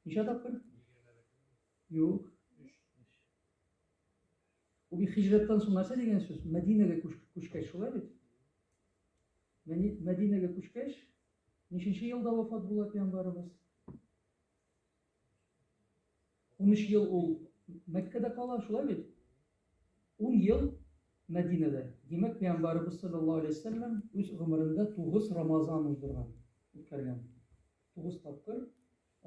Ничә тапкыр? Юк. Бу бит хиҗрәттән соң нәрсә дигән сүз? Мәдинәгә күчкәч, шулай бит? Мәдинәгә күчкәч, ниченче елда вафат була пәйгамбарыбыз? Унөч ел ул Мәккәдә кала, шулай бит? Ун ел Мәдинәдә. Димәк, пәйгамбәребез салләллаһу галәйһи ва сәлләм үз гомерендә тугыз Рамазан уздырган, үткәргән. Тугыз тапкыр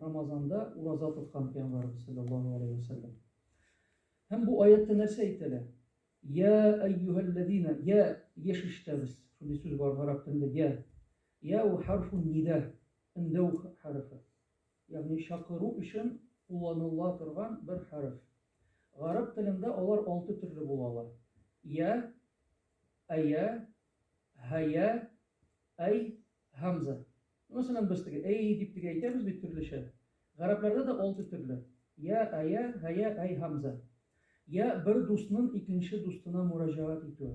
Рамазанда ураза тоткан пәйгамбәребез салләллаһу галәйһи ва сәлләм. Һәм бу аятта нәрсә әйтелә? Я әйюһәлләзина, я еш ишетәбез. Шундый сүз бар гарәп телендә, я. Я у хәрфун нида, өндәү хәрефе. ягъни чакыру өчен кулланыла торган бер хәреф. Гарәп телендә алар алты төрле була ала, йә, әйә, һәйә, әй, һәмзә. Мәсәлән, без теге әй дип теге әйтәбез бит төрлечә. Гарәпләрдә дә алты төрле, йә, әйә, һәйә, әй, һәмзә. Йә бер дустнын икенче дустына мөрәҗәгать итүе.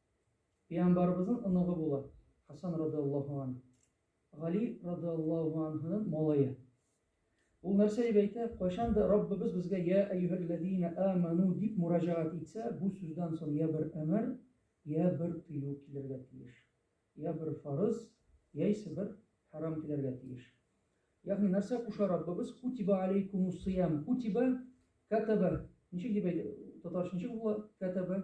Пәйгамбарыбызның оныгы була, Хәсән радыяллаһу ан, Гали радыяллаһу анһының малае. Ул нәрсә дип әйтә, кайчан да Раббыбыз безгә Йә әйюһәлләзина әмәну дип мураҗәгать итсә, бу сүздән соң йә бер әмер, йә бер тыю килергә тиеш. Йә бер фарыз, яисә бер хәрам килергә тиеш. Ягъни нәрсә куша Раббыбыз? Кутиба алейкумуссыям. Кутиба, кәтәбә. Ничек дип әйтә? Татарча ничек була? Кәтәбә.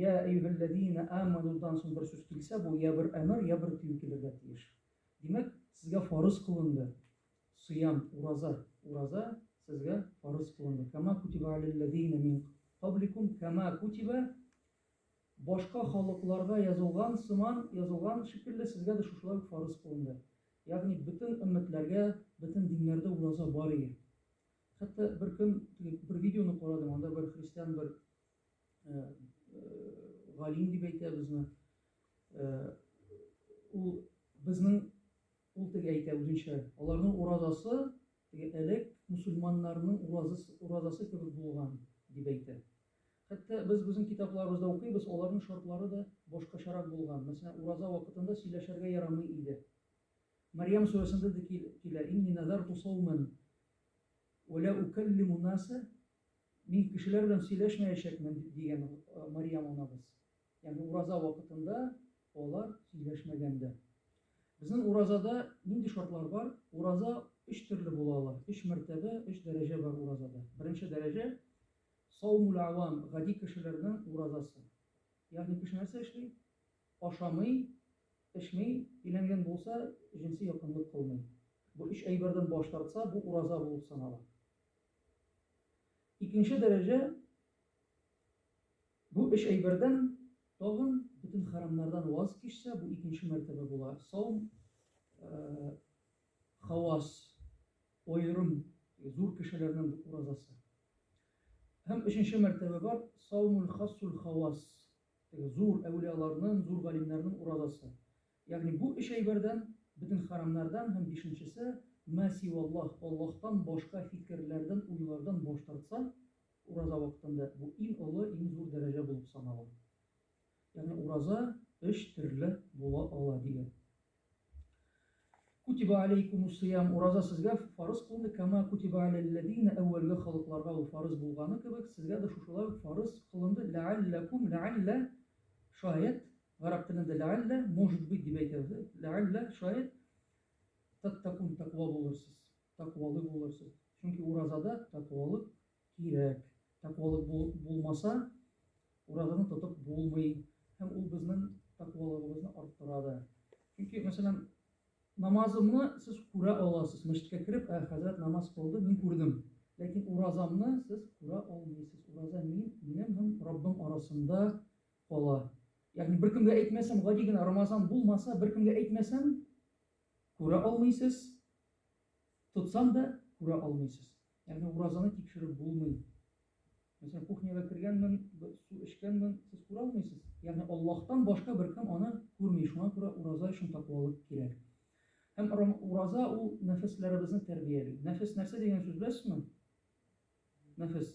Йә әйюһәлләзиинә аманудан соң бер сүз килсә, бу йә бер әмер, йә бер тыю килергә тиеш. Димәк, сезгә фарыз кылынды. Сыям, ураза, ураза сезгә фарыз кылынды. Кәма кутиба аләлләзиинә мин кабликум, кәма кутиба башка халыкларга язылган сыман, язылган шикелле сезгә дә шушылай ук фарыз кылынды. Ягъни бөтен өммәтләргә, бөтен диннәрдә ураза бар иде. Хәтта бер көн теге бер видеоны карадым, анда бер христиан бер галим дип әйтә безне. Ул безнең ул теге әйтә үзенчә, аларның уразасы теге элек мусульманнарның уразасы, уразасы кебек булган дип әйтә. Хәтта без безнең китапларыбызда укыйбыз, аларның шартлары да башкачарак булган. Мәсәлән, ураза вакытында сөйләшергә ярамый иде. Мариям сүрәсендә дә килә, инни назарту сауман ва ла укаллиму наса Мин кешеләр белән сөйләшмәячәкмен, дигән Мариям анабыз. Ягъни ураза вакытында алар сөйләшмәгән дә. Безнең уразада нинди шартлар бар? Ураза өч төрле була ала. Өч мәртәбә, өч дәрәҗә бар уразада. Беренче дәрәҗә, саумул авам, гади кешеләрнең уразасы. Ягъни кеше нәрсә эшли? Ашамый, эчми, өйләнгән булса, җенси якынлык кылмый. Бу өч әйбердән баш тартса, бу ураза булып санала. Икенче дәрәҗә, бу өч әйбердән тагын бөтен хәрамнардан ваз кичсә, бу икенче мәртәбә була. Саум хавас, аерым, зур кешеләрнең уразасы. Һәм өченче мәртәбә бар, саумул хасул хавас, зур әүлияларның, зур галимнәрнең уразасы. Ягъни бу өч әйбердән, бөтен хәрамнардан һәм бишенчесе, мә сиваллаһ, Аллаһтан башка фикерләрдән, уйлардан баш тартса, ураза вакытында, бу иң олы, иң зур дәрәҗә булып санала. Ягъни ураза өч төрле була ала, дигән. Кутиба алейкумуссиям, ураза сезгә фарыз кылынды, кама кутиба алялләдина, әүвәлге халыкларга ул фарыз булганы кебек, сезгә дә шушылай ук фарыз кылынды, ләалләкум, ләаллә, шаят, Гарәп телендә ләгаллә, может быть, дип әйтәбез. Э, ләгаллә, шаят, таттакун, таква булырсыз, таквалы булырсыз. Чөнки уразада таквалык кирәк. Таквалык бул, булмаса, уразаны тотып булмый. Һәм ул безнең таквалыгыбызны арттыра да. Чөнки, мәсәлән, намазымны сез күрә аласыз. Мәчеткә кереп, ә хәзрәт намаз кылды, мин күрдем. Ләкин уразамны сез күрә алмыйсыз. Ураза мин, минем һәм Раббым арасында кала. Ягъни беркемгә әйтмәсәм, гади генә Рамазан булмаса, беркемгә әйтмәсәм, күрә алмыйсыз. Тотсам да күрә алмыйсыз. Ягъни уразаны тикшереп булмый. Мәсәлән, кухняга кергәнмен, су эчкәнмен, сез күрә алмыйсыз. Ягъни Аллаһтан башка беркем аны күрми. Шуңа күрә ураза өчен тәкъвалык кирәк. Һәм ураза ул нәфесләребезне тәрбияли. Нәфес нәрсә дигән сүз беләсезме? Нәфес.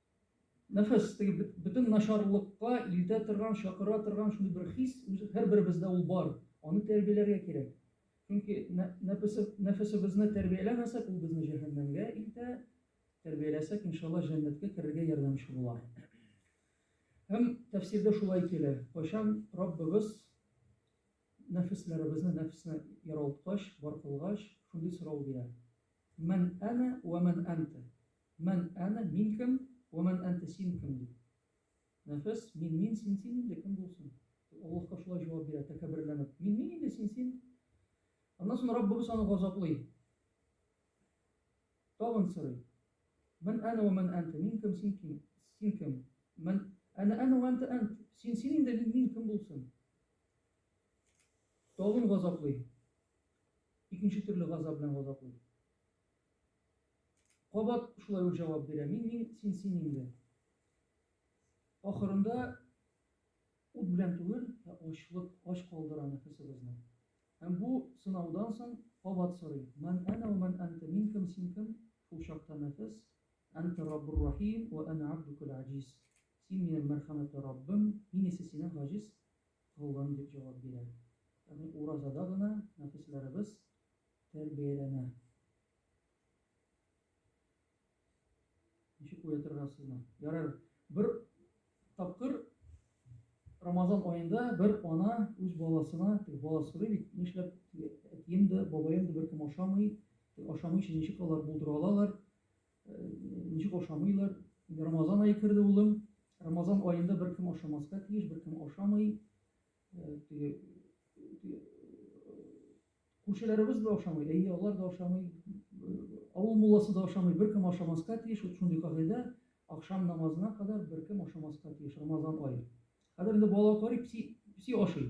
Нәфес, теге бөтен начарлыкка илтә торган, чакыра торган шундый бер хис, һәрберебездә ул бар. Аны тәрбияләргә кирәк. Чөнки нәфесебезне тәрбияләмәсәк, ул безне җәһәннәмгә илтә, тәрбияләсәк, иншалла, җәннәткә керергә ярдәмче була. Һәм тәфсирдә шулай килә, кайчан Раббыбыз нәфесләребезне, нәфесне яралткач, бар кылгач, шундый сорау бирә. Мән әнә вә мән әнтә? Мен әнә, мин кем, уә мен әнтә, син кем, ди. Нәфес, мин, мин, син, син инде кем булсын? Ул Аллаһка шулай җавап бирә, тәкәбберләнеп. Мин, мин инде, син, син. Аннан соң Раббыбыз аны газаплый. Тагын сорый. Мен әнә уә мен әнтә, мин кем, син кем, син кем? Мен әнә әнә уә әнтә әнт, син, син инде, мин, мин кем булсын? Тагын газаплый. Икенче төрле газап белән газаплый. Кабат шулай ук җавап бирә. Мин, мин, син, син инде. Ахырында ут белән түгел, ә ачлык, ач калдыра нәфесебезне. Һәм бу сынаудан соң кабат сорый. Ман әнә ва ман әнтә, мин кем, син кем? Шул чакта нәфес, әнтә раббур рахим ва әнә абдукул аҗиз. Син минем мәрхәмәтле Раббым, мин исә синең гаҗиз колың, дип җавап бирә. Ягъни уразада гына нәфесләребез тәрбияләнә. Ничек уятырга сезне? Ярар, бер тапкыр Рамазан аенда бер ана үз баласына, теге баласы сорый бит, нишләп әтием дә, бабаем да беркем ашамый, ашамый өчен ничек алар булдыра алалар, э, ничек ашамыйлар? Рамазан ае керде улым, Рамазан аенда беркем ашамаска тиеш, беркем ашамый, э, теге Күршеләребез дә ашамый, әйе, алар да ашамый, авыл мулласы да ашамый, беркем ашамаска тиеш, вот шундый кагыйдә, акшам намазына кадәр беркем ашамаска тиеш, Рамазан ае. Хәзер инде бала карый, песи, песи ашый.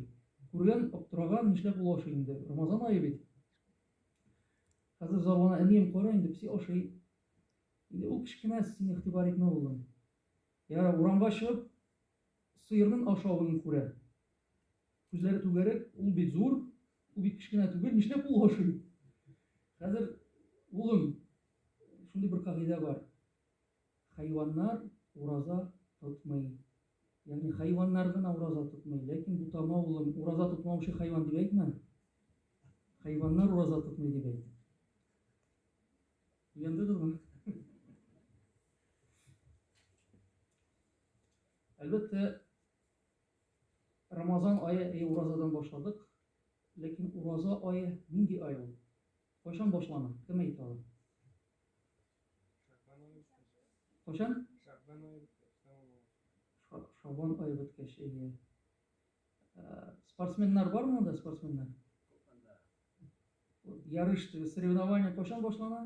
Күргән, аптыраган, нишләп ул ашый инде, Рамазан ае бит. Хәзер зарлана әнием, кара инде, песи ашый. Инде ул кечкенә, син игътибар итмә улым. Ярар, урамга чыгып, Сыернын ашавын күрә. Күзләре түгәрәк, ул бит зур, ул бит кечкенә түгел, нишләп ул ашый? Хәзер, улым, шундый бер кагыйдә бар. Хайваннар ураза тотмый. Ягъни хайваннар гына ураза тотмый. Ләкин бутама, улым, ураза тотмаучы хайван дип әйтмә. Хайваннар ураза тотмый дип әйт. Уяндыгызмы? Әлбәттә, Рамазан ае, әйе, уразадан башладык. Ләкин ураза ае нинди ай ул? Кайчан башлана? Кем әйтә ала? Кайчан? Шабан ае беткәч, әйе. Спортсменнар бар монда, спортсменнар? Ярыш, соревнование кайчан башлана?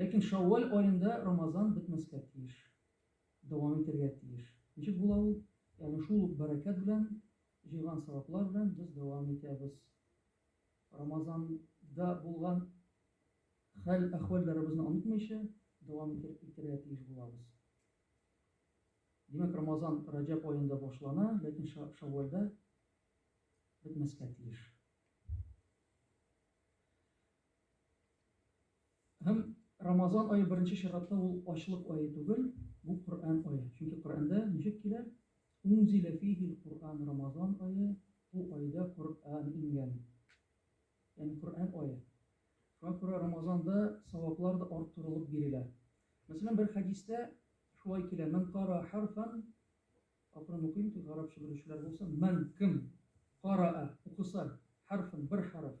Ләкин шәүвәл аенда Рамазан бетмәскә тиеш, дәвам итәргә тиеш. Ничек була ул? Ягъни шул ук бәрәкәт белән, җыйган саваплар белән без дәвам итәбез. Рамазанда булган хәл-әхвәлләребезне онытмыйча, дәвам итәргә тиеш булабыз. Димәк, Рамазан Раҗәб аенда башлана, ләкин шәүвәлдә бетмәскә тиеш. Һәм Рамазан ае беренче чиратта ул ачлык ае түгел, бу Коръән ае. Чөнки Коръәндә ничек килә? Унзилә фихил Коръән Рамазан ае, бу айда Коръән ингән. Ягъни Коръән ае. Шуңа күрә Рамазанда саваплар да арттырылып бирелә. Мәсәлән, бер хәдистә шулай килә: "Мен кара харфан" Акрын укыйм, тик гарапча белүчеләр булса, "Мен кем кара укыса харфан бер харф,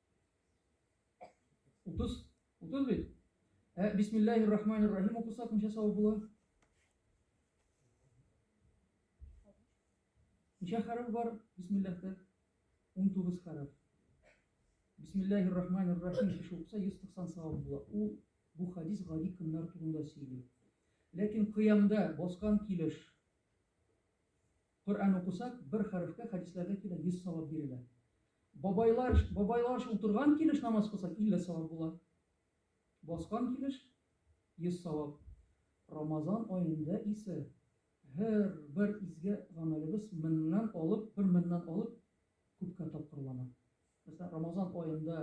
Утыз, утыз бит. Ә бисмиллахи рахмани рахим укысак ничә савап була? Ничә хәреф бар бисмиллахта? 19 хәреф. Бисмиллахи рахмани рахим кеше укыса 190 савап була. Ул бу хадис гади көннәр турында сөйли. Ләкин кыямда баскан килеш Коръән укысак, бер хәрефкә хәдисләрдә килә, 100 савап бирелә. Бабайлар, бабайларча утырган килеш намаз кылсак, 50 савап була. Баскан килеш 100 савап. Рамазан аенда исә һәр бер изге гамәлебез меңнән алып, бер меңнән алып күпкә тапкырлана. Мәсәлән, Рамазан аенда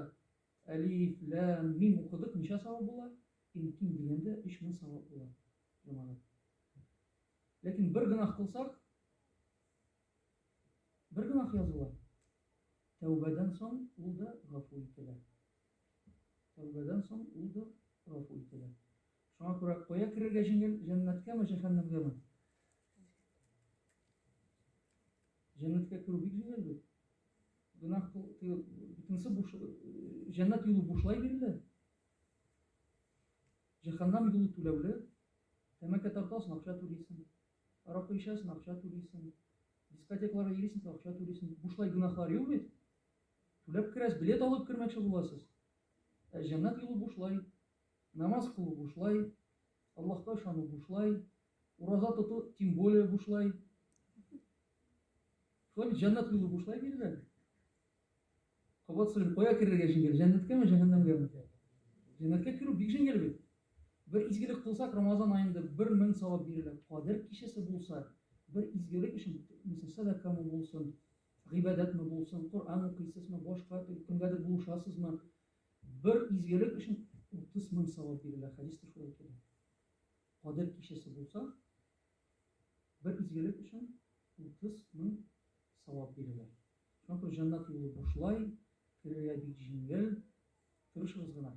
әлиф, ләм, мим укыдык, ничә савап була? Иң ким дигәндә 3000 савап була. Яманы. Ләкин бер гынах кылсак, бер гынах языла. Тәүбәдән соң ул да гафу ителә. Тәүбәдән соң ул да гафу ителә. Шуңа күрә кая керергә җиңел, җәннәткәме, җәһәннәмгәме? Җәннәткә керү бик җиңел бит. Гынах бөтенесе буш, җәннәт юлы бушлай бирелә. Җәһәннәм юлы түләүле, тәмәке тартасың, акча түлисең, аракы эчәсең, акча түлисең, дискотекаларга йөрисең, акча түлисең. Бушлай гөнаһлар юк бит. Түләп керәсез, билет алып кермәкче буласыз. Ә җәннәт юлы бушлай. Намаз кылу бушлай, Аллаһка ышану бушлай, ураза тоту тем более бушлай. Шулай бит җәннәт юлы бушлай бирелә. Кабат сорыйм, кая керергә җиңел, җәннәткәме, җәһәннәмгәме? Җәннәткә керү бик җиңел бит. Бер изгелек кылсак, Рамазан аенда бер мең савап бирелә. Кадер кичәсе булса, бер изгелек өчен, мәсәлән, сәдакамы булсын, гыйбадәтме булсын, Коръән укыйсызмы, башка кемгәдер булышасызмы, бер изгелек өчен утыз мең савап бирелә. Хәдистә шулай килә. Кадер кичәсе булса, бер изгелек өчен утыз мең савап бирелә. Шуңа күрә җаннат юлы бушлай, керергә бик җиңел. Тырышыгыз гына.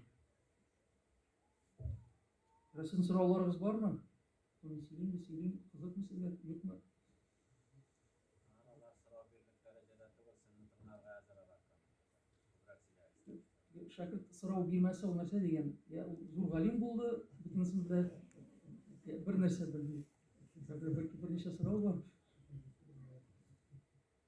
Рәсем сорауларыгыз бармы? Соны сөйлим, бу сөйлим, кызыкмы сезгә, юкмы? Арада сорау бирдек дәрәҗәдә түгел, сезне тыңларга әзер алар. Күбрәк сөйләгез. Шәкерт сорау бирмәсе ул нәрсә дигән? Я ул зур галим булды, бөтенесен белә. Я бер нәрсә белми. Бер берничә сорау бар.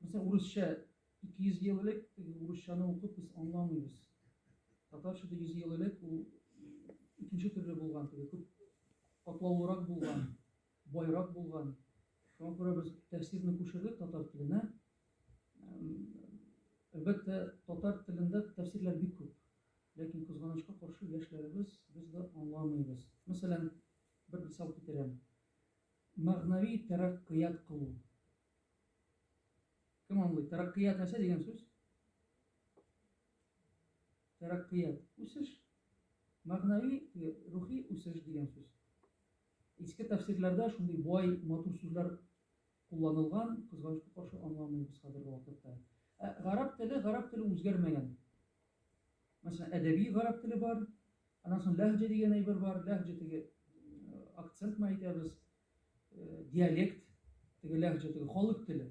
Мисал, урысча 200 ел элек теге урысчаны укып без аңламыйбыз. Татарча да 100 ел элек ул икенче төрле булган, теге күп катлаулырак булган, байрак булган. Шуңа күрә без тәфсирне күчердек татар теленә. Әлбәттә, татар телендә тәфсирләр бик күп. Ләкин кызганычка каршы яшьләребез без дә аңламыйбыз. Мәсәлән, бер мисал китерәм. Мәгънәви тәрәккыят кылу. Кем аңлый? Тәрәккыят нәрсә дигән сүз? Тәрәккыят. Үсеш. Мәгънәви, рухи үсеш дигән сүз. Иске тәфсирләрдә шундый бай, матур сүзләр кулланылган, кызганычка каршы аңламыйбыз хәзерге вакытта. Ә гарәп теле, гарәп теле үзгәрмәгән. Мәсәлән, әдәби гарәп теле бар, аннан соң ләһҗә дигән әйбер бар, ләһҗә теге акцент мәйтәбез. диалект, теге ләһҗә, теге халык теле.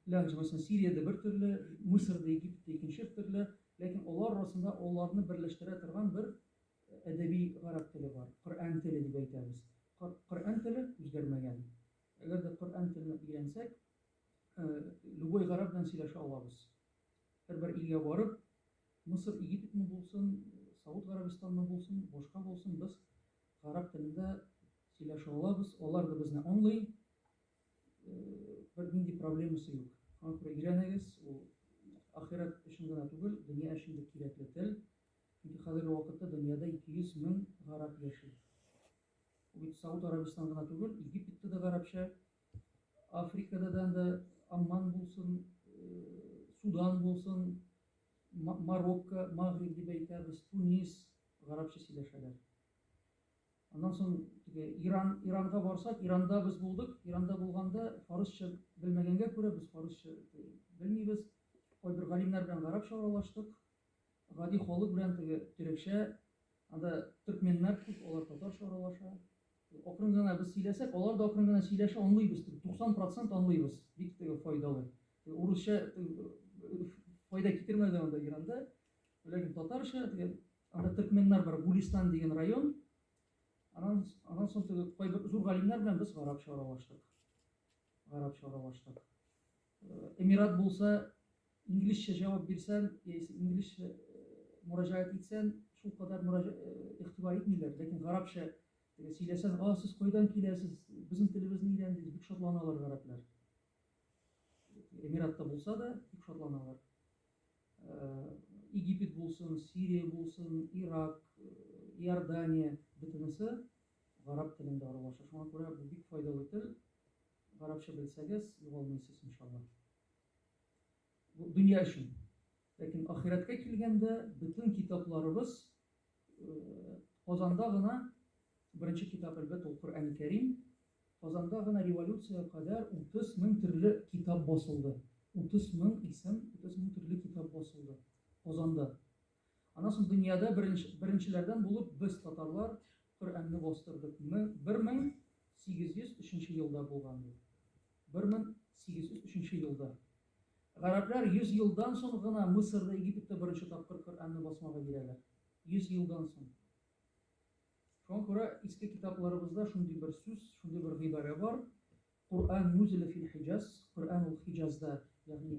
Ләһҗә, мәсәлән, Сириядә бер төрле, Мисырда, Египетта икенче төрле, ләкин алар арасында аларны берләштерә торган бер әдәби гарәп теле бар. Коръән теле дип әйтәбез. Коръән теле үзгәрмәгән. Әгәр дә Коръән телен өйрәнсәк, любой гарәп белән сөйләшә алабыз. Һәрбер илгә барып, Мисыр, Египетме булсын, Сауд Гарәбистанмы булсын, башка булсын, без Гарәп телендә сөйләшә алабыз, алар да безне аңлый. Бер нинди проблемасы юк. Аңа күрә өйрәнегез, ул ахирәт өчен генә түгел, дөнья өчен дә кирәкле тел. Чөнки хәзерге вакытта дөньяда 200 мең гарәп яши. Ул бит Сауд Арабистан гына түгел, Египетта да гарәпчә, Африкада да анда Амман булсын, Судан булсын, Марокко, Магриб дип әйтәбез, Тунис, гарәпчә сөйләшәләр. Аннан соң теге Иран, Иранга барсак, Иранда без булдык. Иранда булганда фарысча белмәгәнгә күрә без фарысча белмибез. Кайбер галимнәр белән гарәпчә аралаштык. Гади халык белән теге төрекчә, анда төркменнәр күп, алар татарча аралаша. Акрын гына без сөйләсәк, алар да акрын гына сөйләшә, анлыйбыз, 90 процент анлыйбыз, бик теге файдалы. Урысча файда китермәде анда Иранда, ләкин татарча, теге анда төркменнар бар, Гулистан дигән район, анан, анан соң теге кайбер зур галимнәр белән без гарапча аралаштык. Гарапча аралаштык. Эмират булса, инглизчә җавап бирсән, яисә инглизчә мөрәҗәгать итсән, шул кадәр игътибар итмиләр, ләкин гарәпчә сөйләсән, а, сез кайдан киләсез, безнең телебезне өйрәндегез, бик шатланалар гарәпләр. Эмиратта булса да, бик шатланалар. Египет булсын, Сирия булсын, Ирак, Иордания, бөтенесе гарәп телендә аралаша. Шуңа күрә бу бик файдалы тел. Гарәпчә белсәгез, югалмыйсыз, иншаллаһ. Бу дөнья өчен. Ләкин ахирәткә килгәндә, бөтен китапларыбыз Казанда гына беренче китап, әлбәттә, ул Коръәни Кәрим. Казанда гына революциягә кадәр 30 мең төрле китап басылды. 30 мең исем, 30 мең төрле китап басылды Казанда. Аннан соң дөньяда беренчеләрдән булып без, татарлар, Коръәнне бастырдык. 1803 елда булган бу. 1803 елда. Гарәпләр 100 елдан соң гына Мысырда, Египетта беренче тапкыр Коръәнне басмага бирәләр. 100 елдан соң. Шуңа күрә иске китапларыбызда шундый бер сүз, шундый бер гыйбарә бар. Коръән нузиле фил хиҗаз, Коръән ул Хиҗазда, ягъни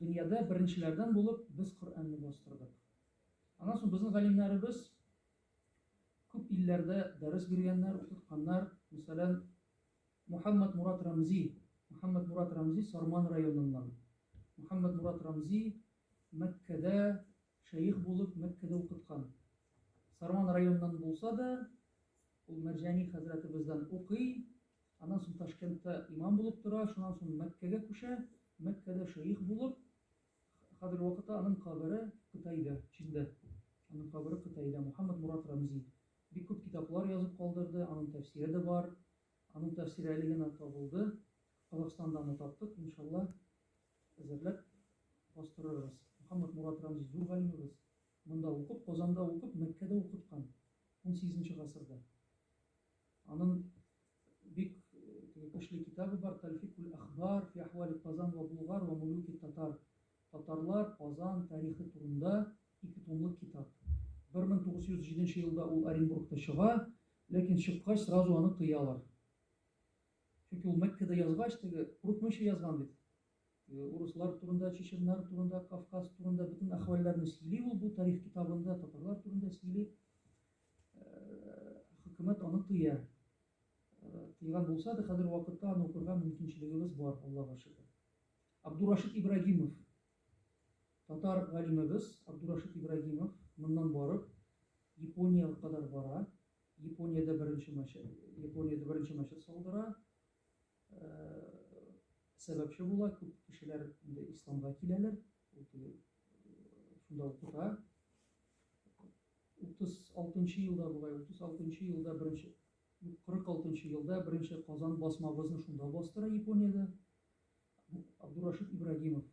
Дөньяда беренчеләрдән булып без Коръәнне бастырдык. Аннан соң безнең галимнәребез күп илләрдә дәрес биргәннәр, укытканнар. Мәсәлән, Мухаммәдмурат Рәмзи, Мухаммәдмурат Рәмзи Сарман районыннан. Мухаммәдмурат Рәмзи Мәккәдә Шәех булып Мәккәдә укыткан. Сарман районыннан булса да, ул Мәрҗани хәзрәтебездән укый, аннан соң Ташкентта имам булып тора, шуннан соң Мәккәгә күчә, Мәккәдә шәех булып, хәзерге вакытта аның кабере Кытайда, Чиндә. Аның кабере Кытайда. Мухаммад Мурат Рамзи бик күп китаплар язып калдырды, аның тәфсире дә бар. Аның тәфсире әле генә табылды. Казахстанда аны таптык, иншалла, әзерләп бастырырбыз. Мөхәммәтмурат Рәмзи зур галимебез. Монда укып, Казанда укып, Мәккәдә укыткан, унсигезенче гасырда. Анын бик теге көчле китабы бар, Тәлфикүл әхбар фи әхвали Казан вә Булгар вә мулюки Татар, Татарлар, Казан тарихы турында ике томлык китап. Бер мең тугыз йөз җиденче елда ул Оренбургта чыга, ләкин чыккач сразу аны тыялар. Чөнки ул Мәккәдә язгач, теге курыкмыйча язган бит. Теге урыслар турында, чеченнар турында, Кавказ турында бөтен әхвәлләрне сөйли ул бу тарих китабында, татарлар турында сөйли. Хөкүмәт аны тыя. Тыйган булса да, хәзер вакытта аны укырга мөмкинчелегебез бар, Аллага шөкер. Абдурашид Ибрагимов татар галимебез Абдурашид Ибрагимов моннан барып Япония кадәр бара. Япониядә беренче матчы, Япониядә беренче матчы салдыра. Э, сәбәпче була, күп кешеләр инде исламга киләләр. Ул теге э, шунда укыта. 36 елда була, 36 елда беренче 46 елда беренче Казан басмабызны шунда бастыра Япониядә. Абдурашид Ибрагимов.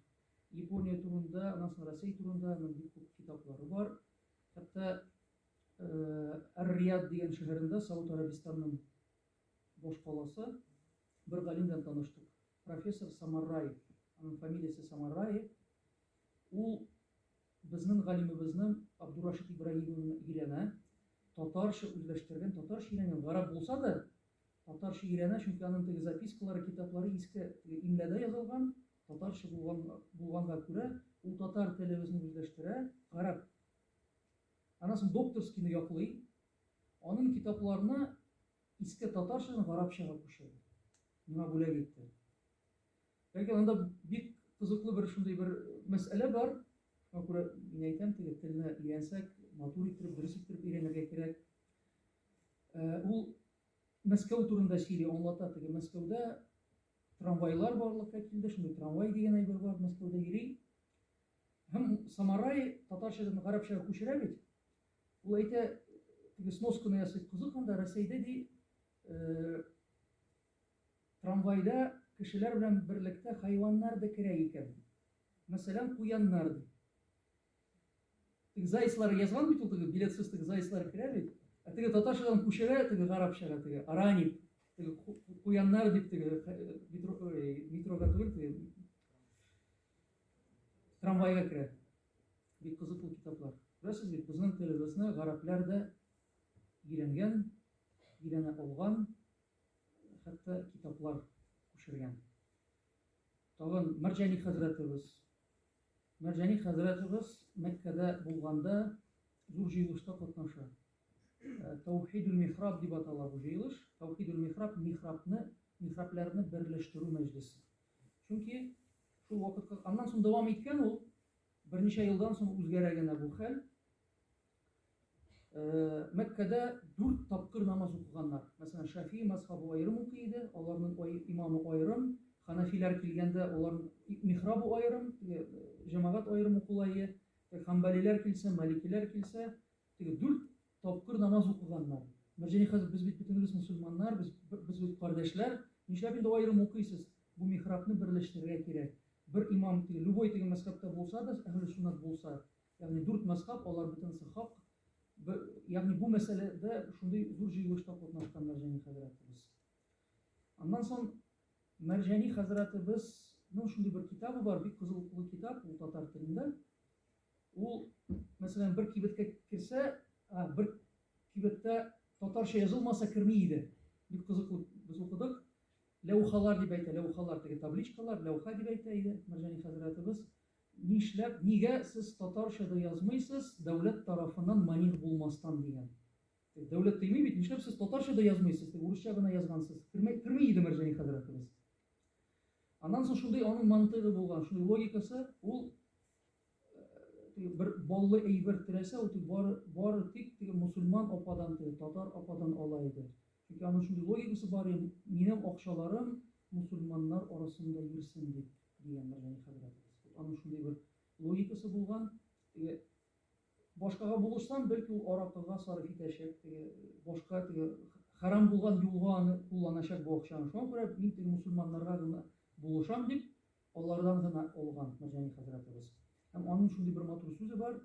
Япония турында, аннан соң Россия турында аның бик күп китаплары бар. Хәтта Ар-Рияд дигән шәһәрендә, Сауд Арабистанның башкаласы, бер галим белән таныштык. Профессор Самарраи, аның фамилиясе Самарраи. Ул безнең галимебезнең Абдурашид Ибраһимовны өйрәнә. Татарча үзләштергән, татарча өйрәнгән, гарап булса да, татарча өйрәнә, чөнки аның теге запискалары, китаплары иске теге имләдә язылган, татарча булган, булганга күрә, ул татар телебезне үзләштерә, гарап Аннан соң докторскийны яклый, анын китапларына иске татарчадан гарапчага күчерде, миңа бүләк итте. Ләкин анда бик кызыклы бер шундый бер мәсьәлә бар, шуңа күрә мин әйтәм, теге телне өйрәнсәк, матур иттереп, дөрес иттереп өйрәнергә кирәк. Ул Мәскәү турында сөйли, аңлата, теге Мәскәүдә трамвайлар барлыкка килде, шундый трамвай дигән әйбер бар, Мәскәүдә йөри. Һәм Самарай татарчадан гарәпчәгә күчерә бит. Ул әйтә, теге сносканы ясый, кызык анда Рәсәйдә ди, э, трамвайда кешеләр белән берлектә хайваннар да керә икән. Мәсәлән, куяннар ди. Теге зайцлар язган бит ул теге билетсыз теге зайцлар керә бит. Ә теге татарчадан күчерә теге гарәпчәгә теге аранит, теге куяннар дип теге э, метро, э, метрога түгел теге Трамвайга керә. Бик кызыклы китаплар. Күрәсез бит, безнең телебезне гарәпләр дә өйрәнгән, өйрәнә алган, хәтта китаплар күчергән. Тагын Мәрҗани хәзрәтебез. Мәрҗани хәзрәтебез Мәккәдә булганда зур җыелышта катнаша. Э, Таухидул михраб дип атала бу җыелыш. Таухидул михраб михрабны, михрабләрне берләштерү мәҗлесе. Чөнки Шул вакытка аннан соң дәвам иткән ул. Берничә елдан соң үзгәрә генә бу хәл. Э, Мәккәдә дүрт тапкыр намаз укыганнар. Мәсәлән, Шафи мазхабы аерым укый иде, аларның имамы аерым, ханафиләр килгәндә аларның михрабы аерым, җәмәгать аерым укыла иде. Хамбалиләр килсә, маликиләр килсә, Теге дүрт тапкыр намаз укыганнар. Мәрҗани хәзрәт, без бит бөтенебез мөселманнар, без, без бит кардәшләр, нишләп инде аерым укыйсыз? Бу михрабны берләштерергә кирәк. Бер имам, теге, любой теге мәзхәбтә булса да, әһле суннат булса, ягъни дүрт мәзхәб, алар бөтенесе хак. Бер, ягъни бу мәсьәләдә шундый зур җыелышта катнашкан Мәрҗани хәзрәтебез. Аннан соң Мәрҗани хәзрәтебезнең шундый бер китабы бар, бик кызыклы китап, ул татар телендә. Ул, мәсәлән, бер кибеткә керсә, бер кибеттә татарча язылмаса керми иде. Бик кызыклы без укыдык. Ләүхалар дип әйтә, ләүхалар теге табличкалар, ләүха дип әйтә иде Мәрҗани хәзрәтебез. Нишләп, нигә сез татарча да язмыйсыз, дәүләт тарафыннан маних булмастан дигән. Дәүләт тыймый бит, нишләп сез татарча да язмыйсыз, дип урысча гына язгансыз. Керми, керми иде Мәрҗани хәзрәтебез. Аннан соң шундый аның мантыйгы булган, шундый логикасы, ул теге бер баллы әйбер теләсә ул теге бары, бары тик теге мусульман ападан теге татар ападан ала иде. Чөнки аның шундый логикасы бар иде, минем акчаларым мусульманнар арасында йөрсен дип дигән Мәрҗани хәзрәтебез. Вот аның шундый бер логикасы булган. Теге башкага булышсам, бәлки ул аракыга сарыф итәчәк, теге башка теге харам булган юлга аны кулланачак бу акчаны. Шуңа күрә мин теге мусульманнарга гына булышам дип Алардан гына алган Мәрҗани хәзрәтебез. Һәм аның шундый бер матур сүзе бар,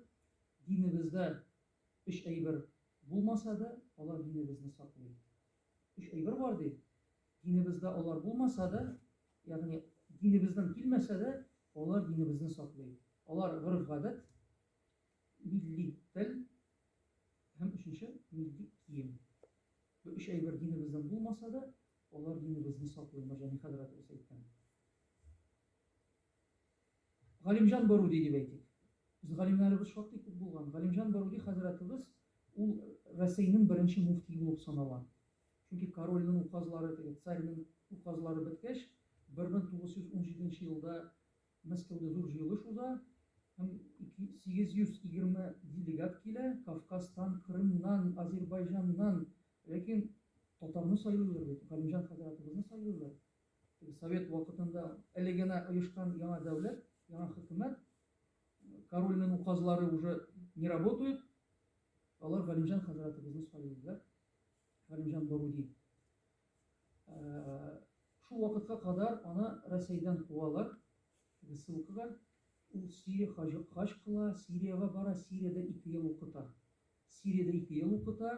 Динебездә өч әйбер булмаса да, алар динебезне саклый. Өч әйбер бар ди. Динебездә алар булмаса да, ягъни динебездән килмәсә дә, алар динебезне саклый. Алар гореф-гадәт, милли тел һәм өченче милли кием. Бу өч әйбер динебездән булмаса да, алар динебезне саклый, Мәрҗани хәзрәтебез әйткән. Галимҗан Баруди дип әйтик. Без галимнәребез шактый күп булган. Галимҗан Баруди хәзрәтебез ул Рәсәйнең беренче муфтие булып санала. Чөнки корольнең указлары, теге царьның указлары беткәч, 1917 нче елда Мәскәүдә зур җыелыш уза һәм 820 делегат килә, Кавказтан, Крымнан, Азербайҗаннан, ләкин татарны сайлыйлар бит, Галимҗан хәзрәтебезне сайлыйлар. Совет вакытында әле генә оешкан яңа дәүләт, яңа хөкүмәт, корольнең указлары уже не работают. Алар Галимҗан хәзрәтебезне сайлыйлар. Галимҗан Баруди. Э, шул вакытка кадәр аны Рәсәйдән куалар. Ссылкага ул Сирия хаҗ кыла, Сириягә бара, Сириядә ике ел укыта. Сириядә ике ел укыта,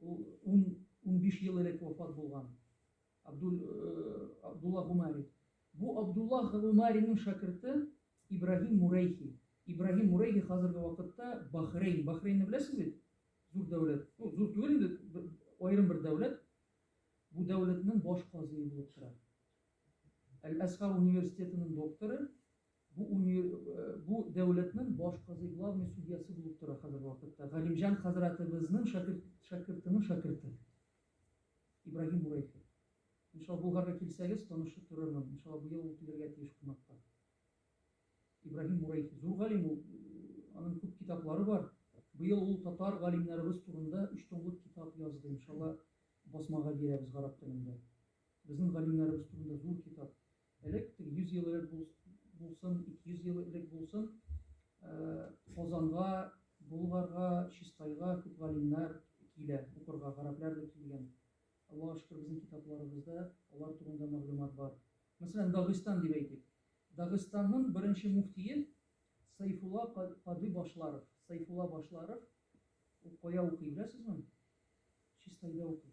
Ул ун-унбиш ел элек вафат булган Абдул, Абдулла Гумари. Бу Абдулла Гумариның шәкерте Ибраһим Мурәйхи. Ибраһим Мурәйхи хәзерге вакытта Бахрейн, Бахрейнны беләсез бит? Зур дәүләт. Ну, зур түгел инде, аерым бер дәүләт. Бу дәүләтнең баш казые булып тора. Әл-Әсхар университетының докторы. Бу унир бу дәүләтнең баш казый, главный судьясы булып тора хәзерге вакытта, Галимҗан хәзрәтебезнең шәкерт шәкертенең шәкерте, Ибраһим Бурайхи. Иншалла, Булгарга килсәгез, танышып торырмын. Иншалла, быел ул килергә тиеш кунакка. Ибраһим Бурайхи. Зур галим ул. Аның күп китаплары бар. Быел ул татар галимнәребез турында өч томлык китап язды. Иншалла, басмага бирәбез гарәп телендә. Безнең галимнәребез турында зур китап. Элек, 100 ел элек булсын, 200 ел элек булсын, Казанга, Болгарга, Чистайга күп галимнәр килә укырга, гарәпләр дә килгән. Аллага шөкер, безнең китапларыбызда алар турында мәгълүмат бар. Мәсәлән, Дагыстан дип әйтик. Дагыстанның беренче муфтие Сайфулла Кади Башларов. Сайфулла Башларов ул кая укый, беләсезме? Чистайда укый.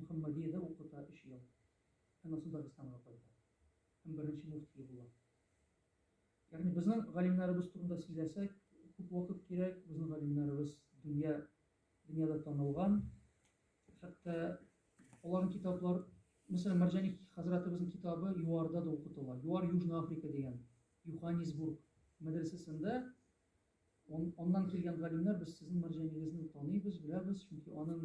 Мөхәммәдиядә укыта өч ел. Аннан Дагыстанга кайта һәм беренче муфтие була. Ягъни безнең галимнәребез турында сөйләсәк, күп вакыт кирәк, безнең галимнәребез дөнья, дөньяда танылган. Хәтта аларның китаплар, мәсәлән, Мәрҗани хәзрәтебезнең китабы ЮАРда да укытыла. ЮАР Южная Африка дигән Юханисбург мәдрәсәсендә аннан килгән галимнәр без сезнең Мәрҗанигезне таныйбыз, беләбез, чөнки аның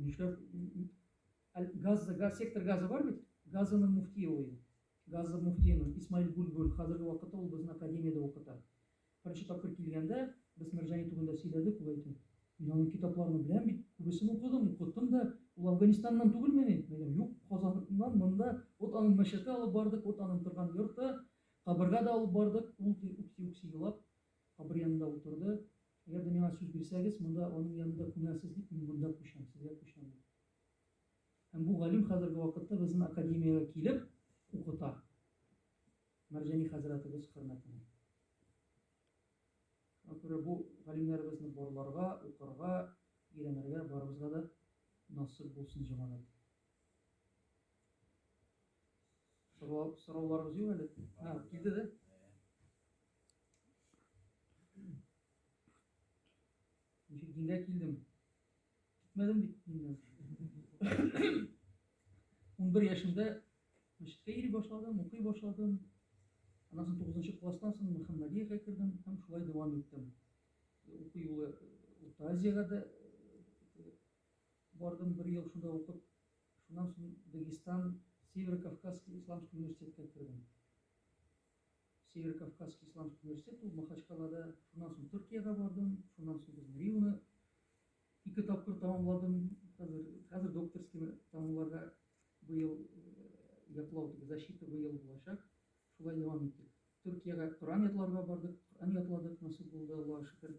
Нишләп газ, газ сектор газы бар бит? Газының муфтие ул. Газы муфтиенең Исмаил Гульгуль хәзерге вакытта ул безнең академиядә укыта. Беренче тапкыр килгәндә без Мәрҗани турында сөйләдек, ул әйтте. Мин аның китапларын беләм бит, күбесен укыдым, укыттым да. Ул Афганистаннан түгелме ни? Мин юк, Казаннан монда вот аның мәчете алып бардык, вот аның торган йорты, кабырга да алып бардык. Ул ди, үкси-үкси елап, Кабер янында утырды. Әгәр дә миңа сүз бирсәгез, монда аның янында күмәрсез, дип мин монда күчәм, сезгә күчәм, диде. Һәм бу галим хәзерге вакытта безнең академиягә килеп укыта. Мәрҗани хәзрәтебез хөрмәтенә. Шуңа күрә бу галимнәребезне барларга, укырга, өйрәнергә барыбызга да насыйп булсын, җәмәгать. Сорауларыгыз юк әле? Һә, килде дә. Ничек дингә килдем? Китмәдем бит дингә. 11 яшемдә мәчеткә йөри башладым, укый башладым. Аннан соң 9 класстан соң Мөхәммәдиягә кердем һәм шулай дәвам иттем. Уку юлы Урта Азиягә дә Бардым бер ел шунда укып, шуннан соң Дагестан Северо-Кавказский исламский университетка кердем. Северо-Кавказский исламский университет ул Махачкалада, шуннан соң Төркиягә бардым, шуннан соң безнең РИУны ике тапкыр тәмамладым. Хәзер хәзер докторскийны тәмамларга быел яклау дип защита быел булачак. Шулай дәвам иттек. Төркиягә Коръән ятларга бардык, Коръән ятладык, насыйп булды, Аллага шөкер.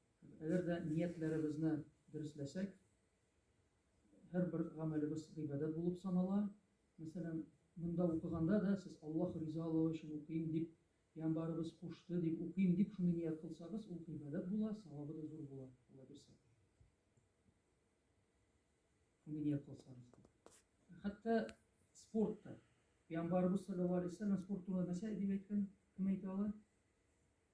Әгәр дә ниятләребезне дөресләсәк, һәрбер гамәлебез гыйбадәт булып санала. Мәсәлән, монда укыганда да сез Аллаһ ризалыгы өчен укыйм дип, пәйгамбарыбыз кушты дип укыйм дип шуны ният кылсагыз, ул гыйбадәт була, савабы да зур була, Алла бирсә. Шуны ният кылсагыз. Хәтта спортта пәйгамбарыбыз саллаллаһу алейһи ва саллям спорт турында нәрсә дип әйткән? Кем әйтә ала?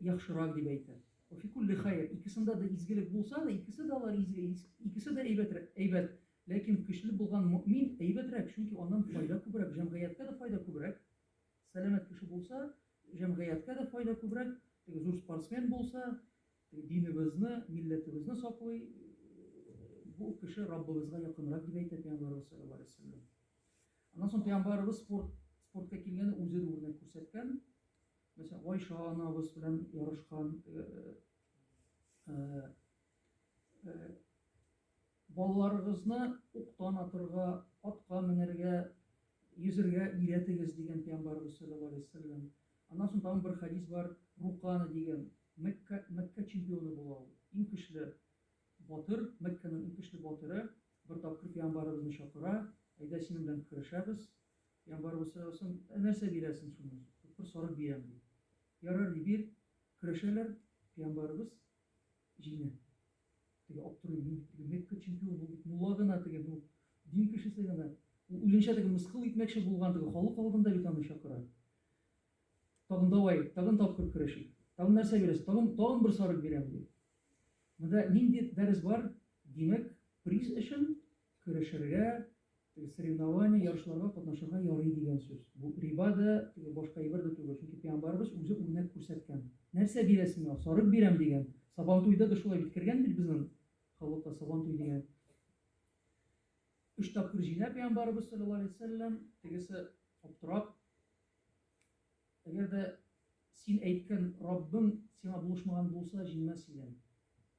яхшырак дип әйтер. Фи кулли хәйр, икесендә дә изгелек булса да, икесе дә алар изге, икесе дә әйбәт, әйбәт. Ләкин көчле булган мөмин әйбәтрәк, чөнки аннан файда күбрәк, җәмгыятькә дә файда күбрәк. Сәламәт кеше булса, җәмгыятькә дә файда күбрәк, теге зур спортсмен булса, динебезне, милләтебезне саклый, бу кеше Раббыбызга якынрак дип әйтә Пәйгамбәрбез саллаллаһу алейһи ва сәлләм. Аннан соң Пәйгамбәрбез спорт, спортка килгәндә үзе дә үрнәк күрсәткән. Мәсәлән, Гайша анабыз белән ярышкан балаларыгызны уктан атырга, атка менәргә, йөзергә өйрәтегез дигән пәйгамбәрбез саллаллаһу алейһи вәсәлләм. Аннан соң тагын бер хәдис бар, Рукана дигән Мәккә Мәккә чемпионы була ул. Иң көчле батыр, Мәккәнең иң көчле батыры бер тапкыр пәйгамбәребезне чакыра, әйдә синең белән көрәшәбез, Я барыбер сорасам, ә нәрсә бирәсең шуны? Тупыр сарык бирәм ди. Ярар ди, бир. Көрәшәләр, пиямбарыбыз җиңә. Теге аптырый, мин бит теге Мекка чемпионы, ул бит мулла гына теге, ну, дин кешесе гына. Ул үзенчә теге мыскыл итмәкче булган теге халык алдында бит аны чакыра. Тагын давай, тагын тапкыр көрәшик. Тагын нәрсә бирәсең? Тагын, тагын бер сарык бирәм ди. Монда нинди дәрес бар? Димәк, приз өчен Көрәшергә, теге соревнование, ярышларга катнашырга ярый дигән сүз. Бу риба да, теге башка әйбер дә түгел, чөнки пәйгамбәребез үзе үрнәк күрсәткән. Нәрсә бирәсең миңа? Сарык бирәм, дигән. Сабантуйда да шулай бит кергән бит безнең халыкта сабантуй дигән. Өч тапкыр җыйна пәйгамбәребез саллаллаһу алейһи вәсәлләм, тегесе аптырап, әгәр дә син әйткән Раббың сиңа булышмаган булса, җыймас идем.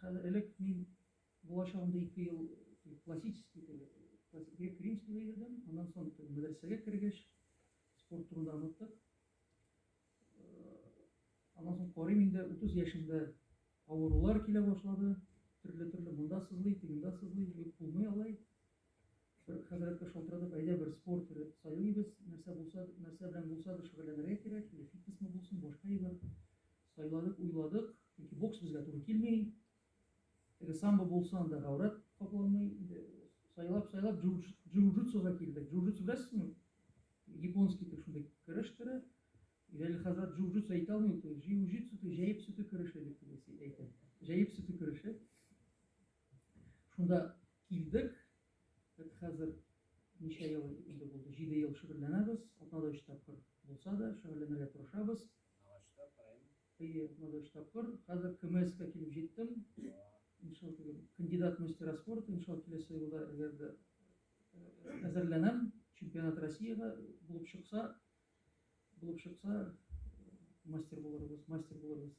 Хәзер элек мин булачагымда ике ел классический грек-римский йөрдем, аннан соң мәдрәсәгә кергәч, спорт турында оныттык. Аннан соң карыйм инде 30 яшемдә авырулар килә башлады, төрле-төрле монда сызлый, тегендә сызлый, юк булмый алай. Бер хәзрәткә шалтыратып, әйдә бер спорт төре сайлыйбыз, нәрсә булса, нәрсә белән булса да шөгыльләнергә кирәк, или фитнесмы булсын, башка әйбер. Сайланып уйладык, чөнки бокс безгә туры килми. Теге самбо булса, анда гаурәт капланмый. Инде сайлап-сайлап джиу-джитсуга килдек. Джиу-джитсу беләсезме? Японский итеп шундый көрәш төре. Җәлил хәзрәт джиу-джитсу әйтә алмый, то джиу-джитсу, то җәеп сөте көрәше дип әйтә. Җәеп сөте көрәше. Шунда килдек. Без хәзер ничә ел инде булды? 7 ел шөгыльләнәбез. Атнада 3 тапкыр булса да шөгыльләнергә тырышабыз. Агачта кырыйм. Әйе, Агачта кыр. Хәзер КМСка килеп җиттем. Иншалла түгел. Кандидат мастера спорта, иншалла киләсе елда әгәр дә әзерләнәм. Чемпионат Россиягә булып чыкса, булып чыкса, мастер булырбыз, мастер булырбыз.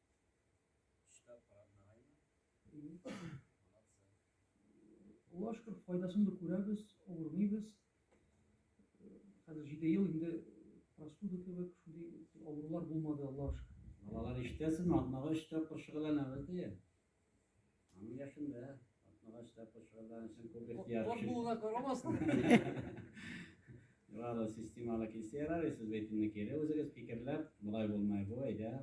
Аллаһ шөкер, файдасын да күрәбез, авырмыйбыз. Хәзер җиде ел инде простуда кебек шундый авырулар булмады, Аллаһ шөкер. Балалар ишетәсезме, атнага өч тапкыр шөгыльләнәбез, ди. Аның яшында, 60 та пошырдан чын күп ихтияр. Кот булуына карамастан. Юралы системалы килсә ярар, сез бәйтемне кире үзегез фикерләп, болай булмай бу, әйдә,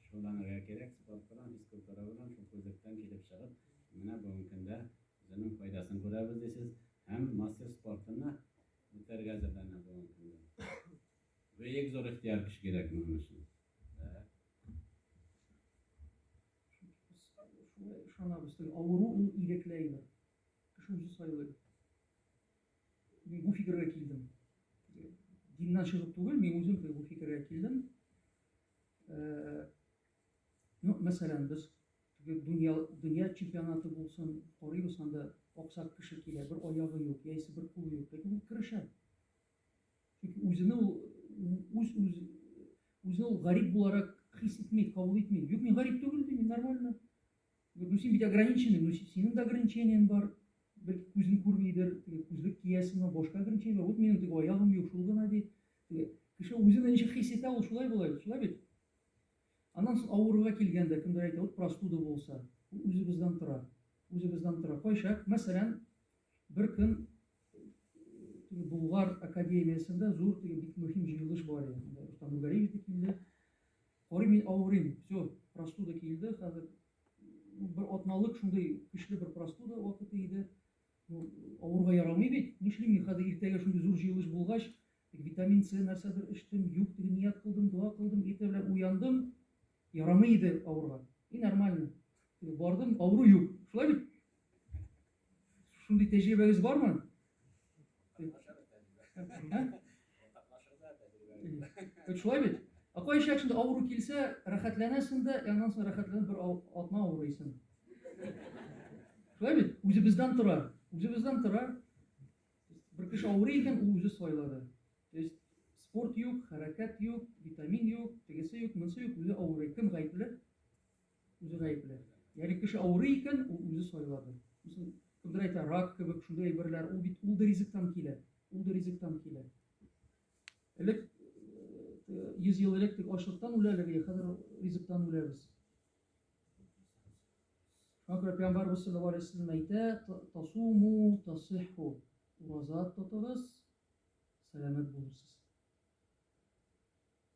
шулланырга кирәк, спорт белән, физкультура белән, шул күзлектән килеп чыгып, менә бүгенге көндә үзенең файдасын күрәбез дисез, һәм мастер спортына үтәргә әзерләнә бүгенге көндә. Бөек зур ихтияр кеше кирәк моның өчен. Шуңа ышанабыз, теге авыру ул ирекләйме? Кеше үзе сайлый. Мин бу фикергә килдем. Диннән чыгып түгел, мин үзем теге бу фикергә килдем. Э, ну, мәсәлән, без дөнья, дөнья чемпионаты булсын, карыйбыз анда аксак кеше килә, бер аягы юк, яисә бер кулы юк, ләкин ул керешә. Чөнки үзене ул үз үз үзен ул гарип буларак хис итми, кабул итми. Юк, мин гарип түгел, мин нормально. Ну, син бит ограниченный, ну, синең дә ограничениең бар. Бер күзен күрмидер, күзлек киясең, башка ограничение бар. Вот минем теге аягым юк, шул гына ди. Кеше үзен ничек хис итә, ул шулай була, шулай бит. Аннан соң авыруга килгәндә, кемдер әйтә, вот простуда булса, үзебездән тора, үзебездән тора. Кайчак, мәсәлән, бер көн теге Булгар академиясендә зур теге бик мөһим җыелыш бар иде. Рустам Нургалиев дә килде. Карый мин авырыйм. Все, простуда килде. Хәзер ну, бер атналык шундый көчле бер простуда вакыты иде. Ну, авырга ярамый бит. Нишлим мин хәзер иртәгә шундый зур җыелыш булгач, витамин С нәрсәдер эчтем, юк дип ният кылдым, дога кылдым, иртә белән уяндым. Ярамый иде авырга. И нормально. Бардым, авыру юк. Шулай бит? Шундый тәҗрибәгез бармы? Шулай бит? Ә кайчак шунда авыру килсә, рәхәтләнәсең дә, ә аннан соң рәхәтләнеп бер атна авырыйсың. Шулай бит? Үзебездән тора. Үзебездән тора. Бер кеше авырый икән, ул үзе сайлады. То есть спорт юк, хәрәкәт юк, витамин юк, тегесе юк, монысы юк, үзе авырый. Кем гаепле? Үзе гаепле. Ягъни кеше авырый икән, ул үзе сайлады. Мисал, кемдер әйтә, рак кебек шундый әйберләр, ул бит ул да ризыктан килә. Ул да ризыктан килә. Элек 100 ел элек тик ачлыктан үлә әлеге, хәзер ризыктан үләбез. Шуңа күрә Пәйгамбәрбез саллаллаһу алейһи вәсәлләм әйтә, тасуму тасиху. Ураза тотыгыз, сәламәт булырсыз.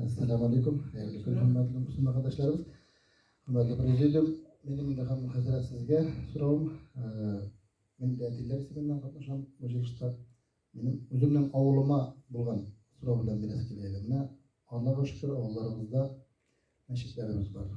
Әссәламу алейкум, хәерле көн, хөрмәтле мөслиман кардәшләребез. Хөрмәтле президиум, минем инде һәм хәзрәт сезгә соравым. Мин дә әтиләр исеменнән катнашам бу җыелышта. Минем үземнең авылыма булган сорау белән бирәсе килә иде. Менә Аллага шөкер, авылларыбызда мәчетләребез бар.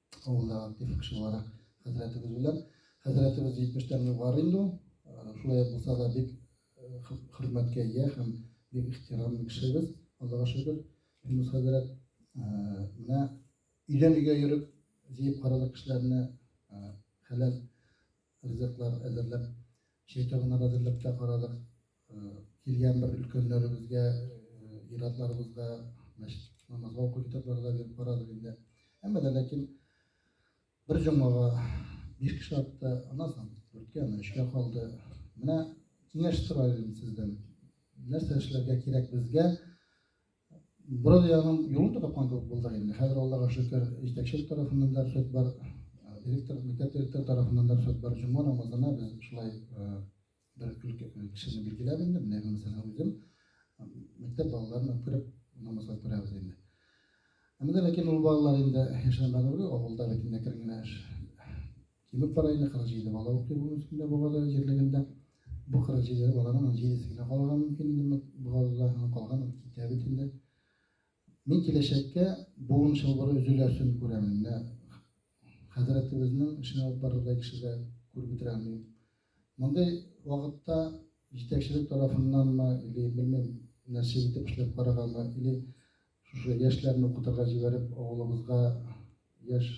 авылда актив кеше буларак хәзрәтебез белән. Хәзрәтебез 70-тән югары инде ул. Шулай булса да бик хөрмәткә ия һәм бик ихтирамлы кешебез. Аллага шөкер, Финус хәзрәт менә өйдән өйгә йөреп, җыеп карадык кешеләрне хәләл ризыклар әзерләп, чәй табыннар әзерләп тә карадык. килгән бер өлкәннәребезгә, иратларыбызга мәчет намазга уку китаплары да биреп карадык инде. Әмма да ләкин бер җомгага биш кеше атты, аннан соң дүрткә, аннан өчкә калды. Менә киңәш сорар идем сездән. Нәрсә эшләргә кирәк безгә? Буран ягының юлын да тапкан кебек булдык инде. Хәзер Аллага шөкер, җитәкчелек тарафыннан да рөхсәт бар, директор, мәктәп директоры тарафыннан да рөхсәт бар. Җомга намазына без шулай Бер кешене билгеләп инде, менә гына сәлам бирдем. Мәктәп балаларына күреп намазга күрәбез инде. Әмма ләкин ул балалар инде яшәгән барлыгы авылда бит инде кер генә эш. Кимеп бара инде 47 бала укый бу мөскиндә бабада җирлегендә. Бу 47 баланың 7 генә калган мөмкин инде бабада һәм калган китә бит инде. Мин киләчәккә буын чылбыры өзеләсен күрәмен. Менә хәзрәтебезнең эшенә алып барырдай кешегә күреп бетерәм мин. Мондый вакытта җитәкчелек тарафыннанмы или, белмим, нәрсә итеп эшләп караганмы, или шушы яшьләрне укытырга җибәреп, авылыбызга яшь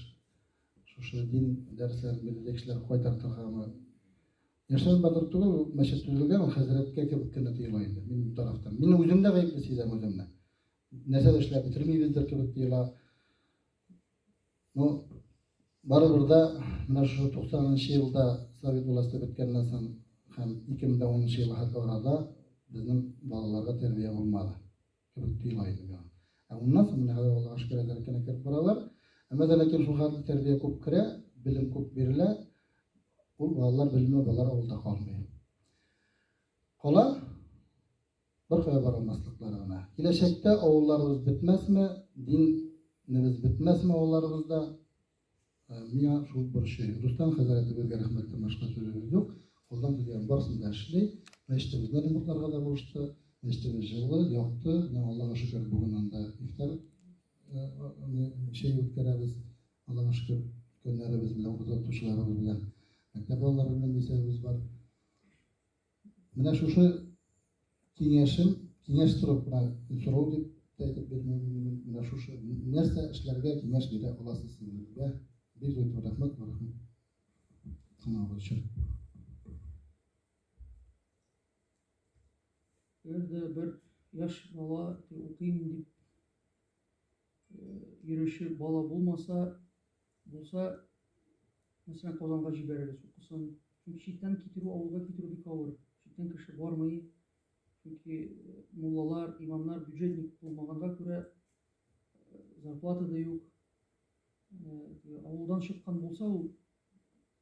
шушы дин дәресләрен бирергә кешеләр кайтартыргамы? Яшьләр батыр түгел, мәчет төзелгән, ул хәзрәткә кебек кенә тоела инде минем тарафтан. Мин үзем дә гаепле сизәм үземне. Нәрсә дә эшләп бетермибездер кебек тоела. Ну, барыбер да менә шушы 90 нчы елда совет власте беткәннән соң һәм 2010 нчы елга арада безнең балаларга тәрбия булмады кебек тоела иде миңа. Ә моннан соң менә хәзер Аллага шөкер әле кенә кереп баралар. Әмма дә ләкин шул хәтле тәрбия күп керә, белем күп бирелә. Ул балалар белеме балалар авылда калмый. Кала Беркая бара алмаслыклары гына. Киләчәктә авылларыбыз бетмәсме, дин небез бетмәсме авылларыбызда, миңа шул борчый. Рустам хәзрәтебезгә рәхмәттән башка сүзебез юк. Кулдан килгән барысын да эшли. Мәчетебезне ремонтларга да булышты. Мәчетебез җылы, якты. Менә Аллага шөкер, бүген анда ифтар чәй үткәрәбез. Аллага шөкер, өлкәннәребез белән, укытучыларыбыз белән, мәктәп балалары белән исәбебез бар. Менә шушы киңәшем, киңәш торып кына сорау дип тә әйтеп бирмим, менә шушы нәрсә эшләргә киңәш бирә аласыз сезгә. Бик зур итеп рәхмәт, рәхмәт. Сынавы өчен. Өйдә бер яшь бала укыйм дип йөрүче бала булмаса, Булса, мәсәлән, Казанга җибәрегез, укысын. Чөнки читтән китерү, авылга китерү бик авыр. Читтән кеше бармый. Чөнки э, муллалар, имамнар бюджетник булмаганга күрә э, зарплата да юк. Э, авылдан чыккан булса, ул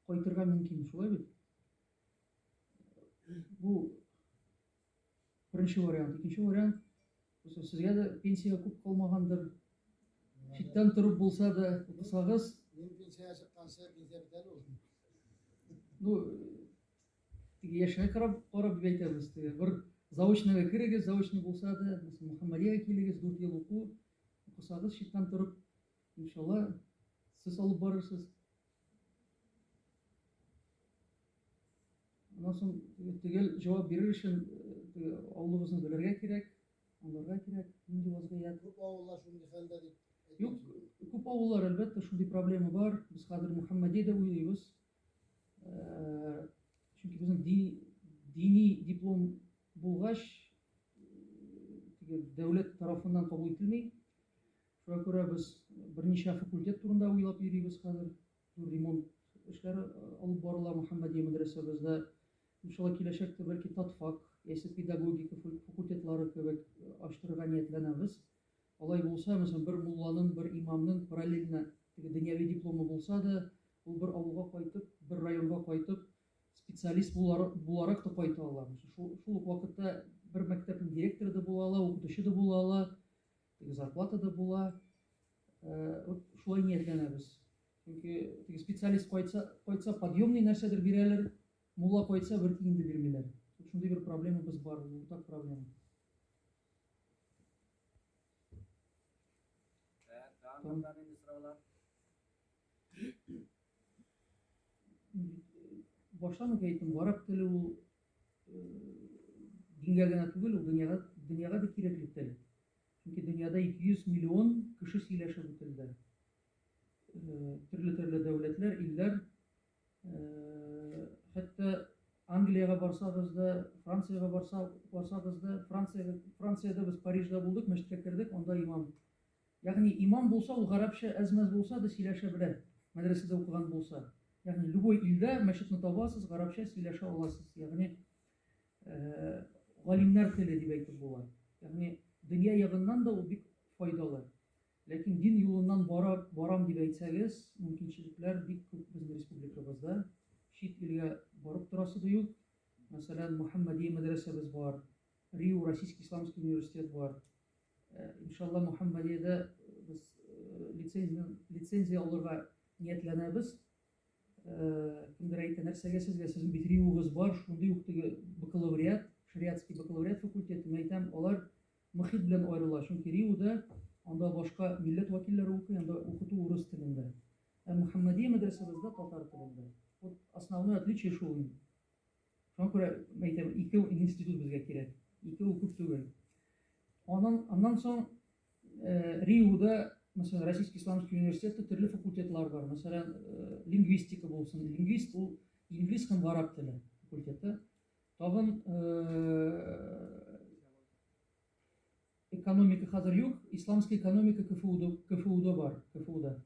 кайтырга мөмкин, шулай бит? Бу Беренче вариант. Икенче вариант, просто сезгә дә пенсия күп калмагандыр. Читтән торып булса да укысагыз. Мин пенсия чыкканчы пенсия бит әле ул. Ну, теге яшьгә карап карап дип әйтәбез. Теге бер заочныйга керегез, заочный булса да, мәсәлән, Мөхәммәдиягә килегез, 4 ел уку, укысагыз читтән торып, иншалла, сез алып барырсыз. Аннан соң төгәл җавап бирер өчен теге авылыбызны белергә кирәк, аңларга кирәк, нинди вазгыять. Күп авыллар шундый хәлдә дип. Юк, күп авыллар әлбәттә шундый проблема бар. Без хәзер Мөхәммәди дә уйлыйбыз. Чөнки безнең дини диплом булгач, теге дәүләт тарафыннан кабул ителми. Шуңа күрә без берничә факультет турында уйлап йөрибез хәзер. Зур ремонт эшләре алып барыла Мөхәммәдия мәдрәсәбездә. Иншалла, киләчәктә бәлки татфак яисә педагогика факультетлары кебек ачтырырга ниятләнәбез. Алай булса, мәсәлән, бер мулланың, бер имамның параллельно теге дөньяви дипломы булса да, ул бер авылга кайтып, бер районга кайтып, специалист буларак та кайта ала. Шул ук вакытта бер мәктәпнең директоры да була ала, укытучы да була ала. Теге зарплата да була. Вот шулай ниятләнәбез. Чөнки теге специалист кайтса, кайтса подъемный нәрсәдер бирәләр, мулла кайтса бер тиен дә бирмиләр. Шундый бер проблемабыз бар, уртак проблема. Там баштан ук әйттем, гарәп теле ул Дингә генә түгел, ул дөньяга, дөньяга бик кирәкле тел. Чөнки дөньяда 200 миллион кеше сөйләшә бу телдә. Э, төрле-төрле дәүләтләр, илләр, э, хәтта Англиягә барсагыз да, Франциягә барса, барсагыз да, Франциягә, Франциядә без Парижда булдык, мәчеткә кердек, анда имам Ягъни имам булса, ул гарәпчә әз-мәз булса да сөйләшә белә, мәдрәсәдә укыган булса. Ягъни любой илдә мәчетне табасыз, гарәпчә сөйләшә аласыз. Ягъни галимнәр теле дип әйтеп була. Ягъни дөнья ягыннан да ул бик файдалы. Ләкин дин юлыннан бара, барам дип әйтсәгез, мөмкинчелекләр бик күп безнең республикабызда. Чит илгә барып торасы да юк. Мәсәлән, Мөхәммәдия мәдрәсәбез бар. Риу Российский исламский университет бар. Э, иншалла Мухаммадиядә э, без э, лицензия, лицензия алырга ниятләнәбез. Кемдер әйтә, нәрсәгә сезгә, сезнең бит риуыгыз бар, шундый ук теге бакалавриат, шариатский бакалавриат факультеты, мин әйтәм, алар мөхит белән аерыла, чөнки риуда анда башка милләт вәкилләре укый, анда укыту урыс телендә. Ә Мухаммадия мәдрәсәбездә татар телендә. Вот основное отличие шул инде. Шуңа күрә әйтәм, ике институт безгә кирәк. Ике ул күп түгел. Аннан, аннан соң э, Риуда, мәсәлән, Российский исламский университеты төрле факультетлар бар. Мәсәлән, э, лингвистика булсын. Лингвист ул инглиз һәм гарап теле факультеты. Тагын э, экономика хәзер юк, исламский экономика КФУда, КФУда бар, КФУда,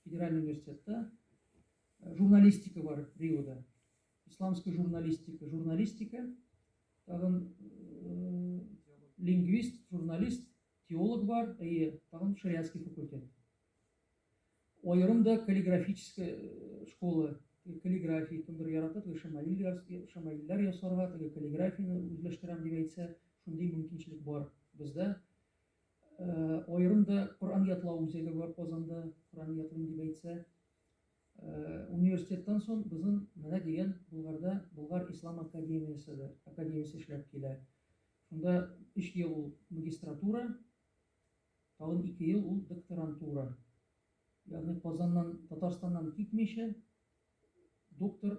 федеральный университетта. Э, журналистика бар Риуда. Исламская журналистика, журналистика, тагын э, лингвист, журналист, теолог бар, әйе, тагын шариатский факультет. Аерым да каллиграфическая э, школа, каллиграфия, кемдер ярата, теге шамаилләр ясарга, теге каллиграфияне үзләштерәм дип әйтсә, шундый мөмкинчелек бар бездә. Э, аерым да Коръән ятлау үзәге бар Казанда, Коръән ятлыйм дип әйтсә, Университеттан сон бызын менә дигән Булгарда Булгар Ислам академияседе, академиясе эшләп килә. Шунда 3 ел ул магистратура, тагын 2 ел ул докторантура. Ягъни Казаннан, Татарстаннан китмичә, доктор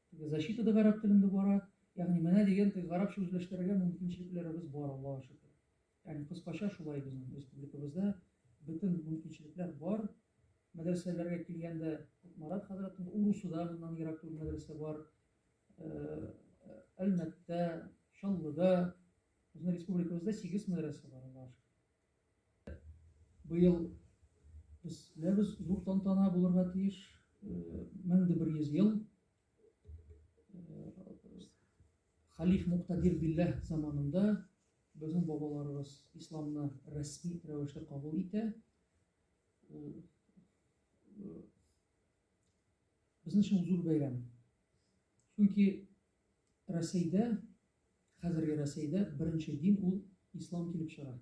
Теге защита да гарәп телендә бара. Ягъни менә дигән теге гарәпчә үзләштерергә мөмкинчелекләребез бар, Аллага шөкер. Ягъни кыскача шулай безнең республикабызда бөтен мөмкинчелекләр бар. Мәдрәсәләргә килгәндә, Марат хәзрәтнең Урусуда моннан ерак түгел мәдрәсә бар. Әлмәттә, Чаллыда, безнең республикабызда сигез мәдрәсә бар, Аллага шөкер. Быел без беләбез, зур тантана булырга тиеш, 1100 ел халиф Муктадир Билләһ заманында безнең бабаларыбыз исламны рәсми рәвештә кабул итә. Ул безнең өчен зур бәйрәм. Чөнки Рәсәйдә, хәзерге Рәсәйдә беренче дин ул ислам килеп чыга.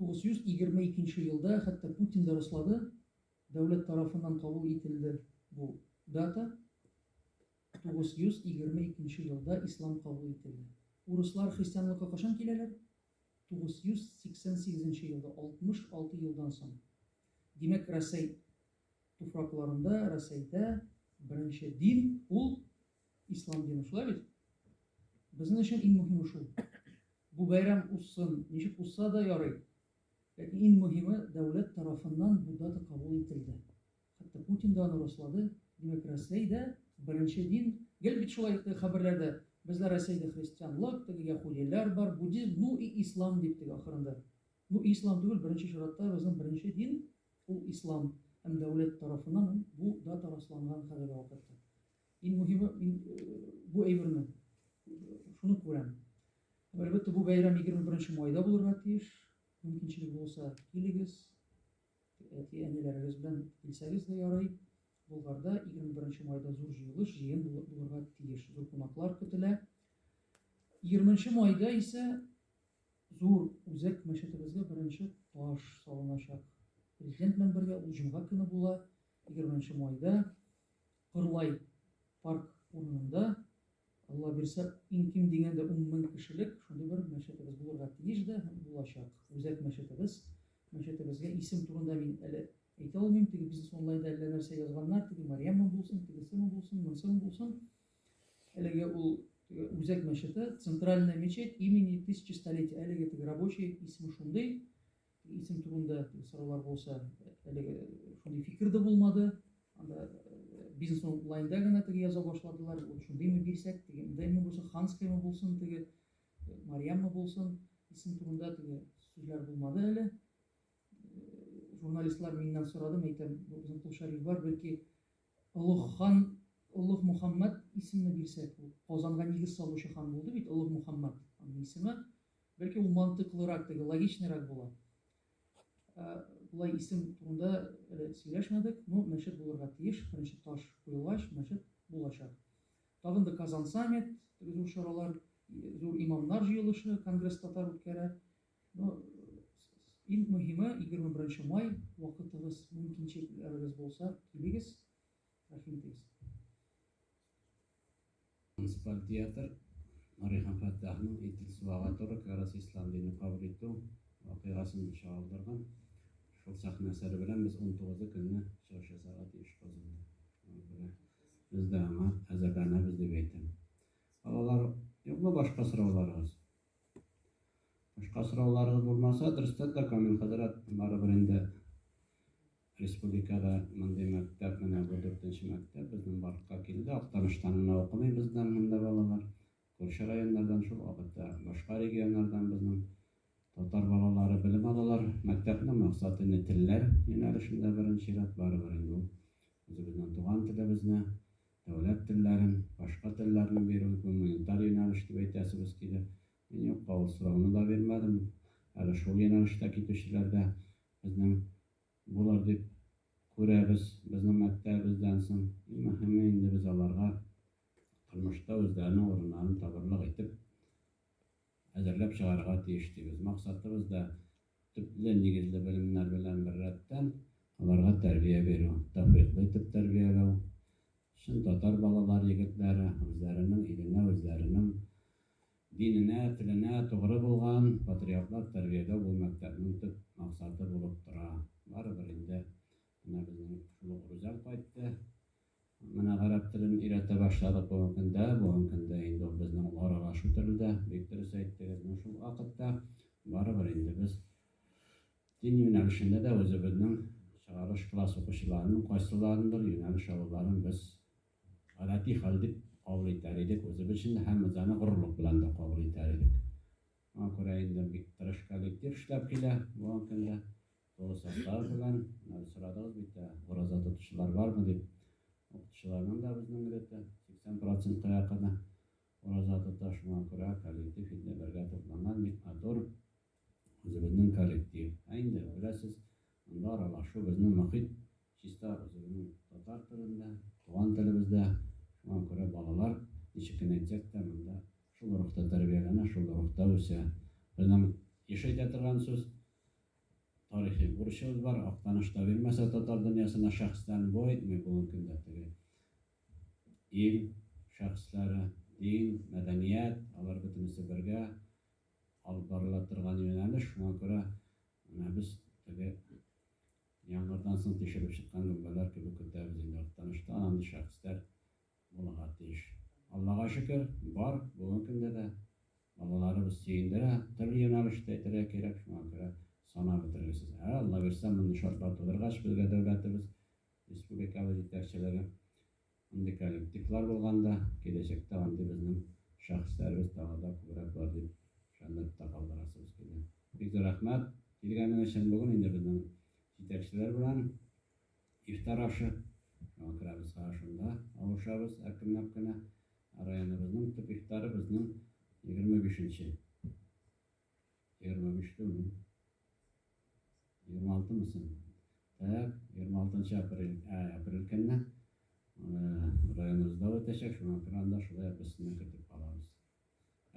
922 елда, хәтта Путин да раслады, дәүләт тарафыннан кабул ителде бу дата. 922 елда ислам кабул ителде. Урыслар христианлыкка кашан киләләр? 988 елда, 66 елдан соң. Димәк, Рәсәй Туфракларында Рәсәйдә беренче дин ул ислам дине, шулай бит? Безнең өчен иң мөһиме шул. Бу бәйрәм узсын, ничек узса да ярый. Ләкин иң мөһиме дәүләт тарафыннан бу дата кабул ителде. Хәтта Путин да аны раслады. Димәк, Рәсәйдә беренче дин, гел бит шулай теге хәбәрләрдә, бездә Рәсәйдә христианлык, теге яһүдиләр бар, буддизм, ну и ислам дип теге ахырында. Бу ислам түгел, беренче чиратта безнең беренче дин ул ислам һәм дәүләт тарафыннан бу дата расланган хәзерге вакытта. Иң мөһиме мин бу әйберне шуны күрәм. Һәм әлбәттә бу бәйрәм 21 майда булырга тиеш. Мөмкинчелек булса, килегез. Әти әниләрегез белән килсәгез дә ярый. Болгарда 21 майда зур җыелыш, җыен булырга тиеш. Зур кунаклар көтелә. 20 майда исә Зур Үзәк мәчетебезгә беренче таш салыначак. Президент белән бергә ул җомга көне була, 20 нче майда, Кырлай парк урынында. Алла бирсә, иң ким дигәндә 10 мең кешелек шундый бер мәчетебез булырга тиеш дә һәм булачак. Үзәк мәчетебез. Мәчетебезгә исем турында мин әле әйтә алмыйм, теге бизнес онлайнда әллә нәрсә язганнар, теге Марьямма булсын, тегесеме булсын, монысымы булсын. Әлеге ул теге үзәк мәчете, центральная мечеть имени тысячестолетия. Әлеге теге рабочий исеме шундый. Исем турында сораулар булса, әлеге шундый фикер дә булмады. Анда э, бизнес онлайнда гына теге яза башладылар. Ул шундыймы бирсәк, дегендәйме булса, ханскаймы булсын, теге э, Марьяммы булсын, исем турында теге сүзләр булмады әле. Э, журналистлар миннән сорадым, әйтәм, безнең Кулшариф бар, бәлки Олуг хан Олуг Мухаммад исемне бирсәк, ул Казанга нигез салучы хан булды бит, Олуг Мухаммад аның исеме. Бәлки ул мантыклырак, теге логичныйрак була. Ә, Болай исем турында әле сөйләшмәдек, но ну, мәчет булырга тиеш, беренче таш куелгач, мәчет булачак. Тагын да Казан саммит, теге зур чаралар, зур имамнар җыелышы, конгресс татар үткәрә. Ну, иң мөһиме, 21 май, вакытыгыз, мөмкинчелегегез булса, килегез, рәхим итегез. Муниципаль театр Нури һәм Фәттахның Итил суага туры кырыс ислам динен кабул итү вакыйгасын чагылдырган шул сәхнә әсәре белән без 19 көнне чыгыш ясарга тиеш Казанда. Шуңа без дә аңа әзерләнәбез дип әйтәм. Балалар, юкмы башка сорауларыгыз? Башка сорауларыгыз булмаса, дөрестән дә, Камил хәзрәт, барыбер инде республикада мондый мәктәп, менә бу дүртенче мәктәп безнең барлыкка килде. Актаныштан гына укымый бездән монда балалар. Күрше районнардан, шул вакытта башка регионнардан безнең татар балалары белем алалар. Мәктәпнең максаты инде телләр юнәлешендә беренче чират, барыбер инде ул үзебезнең туган телебезне Дәүләт телләрен, башка телләрне бирү гуманитар юнәлеш дип әйтәсебез килә. Мин юкка ул сорауны да бирмәдем. Әле шул юнәлештә китүчеләр дә безнең булыр дип күрәбез безнең мәктәбебездән соң. Иң мөһиме инде без аларга тормышта үзләренең урыннарын табырлык итеп, әзерләп чыгарырга тиеш дибез. Максатыбыз да, төпле, нигезле белемнәр белән беррәттән, аларга тәрбия бирү, тәүфыйклы итеп тәрбияләү, чын татар балалары, егетләре, үзләренең иленә, үзләренең диненә, теленә тугры булган патриотлар тәрбияләү бу мәктәпнең төп максаты булып тора. Барыбер инде менә безнең шул ук Рүзәл кайтты. Менә гарәп телен өйрәтә башладык бүгенге көндә. Бүгенге көндә инде ул безнең аралашу теле дә. Бик дөрес әйттегез. Ну, шул вакытта барыбер инде без дин юнәлешендә дә үзебезнең чыгарылыш класс укучыларының кайсыларындыр юнәлеш алуларын без гадәти хәл дип кабул итәр идек үзебез өчен дә һәм без аны горурлык белән дә кабул итәр идек. Моңа күрә инде бик тырыш коллектив эшләп килә бүгенге көндә. Олы Саттар белән сорадыгыз бит, ураза тотучылар бармы дип. Укытучыларның да безнең милләттә 80 процентка якыны ураза тота, шуңа күрә коллектив инде бергә тупланган, бик матур үзебезнең коллектив. Ә инде беләсез, монда аралашу безнең мохит чиста үзебезнең татар телендә, туган телебездә. Шуңа күрә балалар ничек кенә әйтсәк тә монда шул рухта тәрбияләнә, шул рухта үсә. Безнең еш әйтә торган сүз, Тарихи бурычыбыз бар, Актаныш та бирмәсә татар дөньясына шәхесләрне бу әйтми бүгенге көндә теге ил шәхесләре, дин, мәдәният, алар бөтенесе бергә алып барыла торган юнәлеш, шуңа күрә менә без теге яңгырдан соң тишелеп чыккан гөмбәләр кебек көтәбез инде Актанышта андый шәхесләр Булырга тиеш. Аллага шөкер, бар, бүгенге көндә дә балаларыбыз сөендерә, төрле юнәлештә итәргә кирәк, шуңа күрә санап бетергесез. Ә Аллабирса, мондый шартлар тудыргач, безгә дәүләтебез, республикабыз җитәкчелеге мондый коллективлар булганда, киләчәктә андый безнең шәхесләребез тагы да күбрәк булыр дип ышанып та калдырасыбыз килә. Бик зур рәхмәт килгәнең өчен, бүген инде безнең җитәкчеләр белән. Ифтар ашы яңа керәбез ашында авышабыз әкренләп кенә районыбызның төп ифтары безнең егерме бишенче егерме биш түгел егерме алты мы соң так егерме алтынчы апрель апрель көнне районыбызда үтәчәк шуңа күрә анда шулай без сезне көтеп калабыз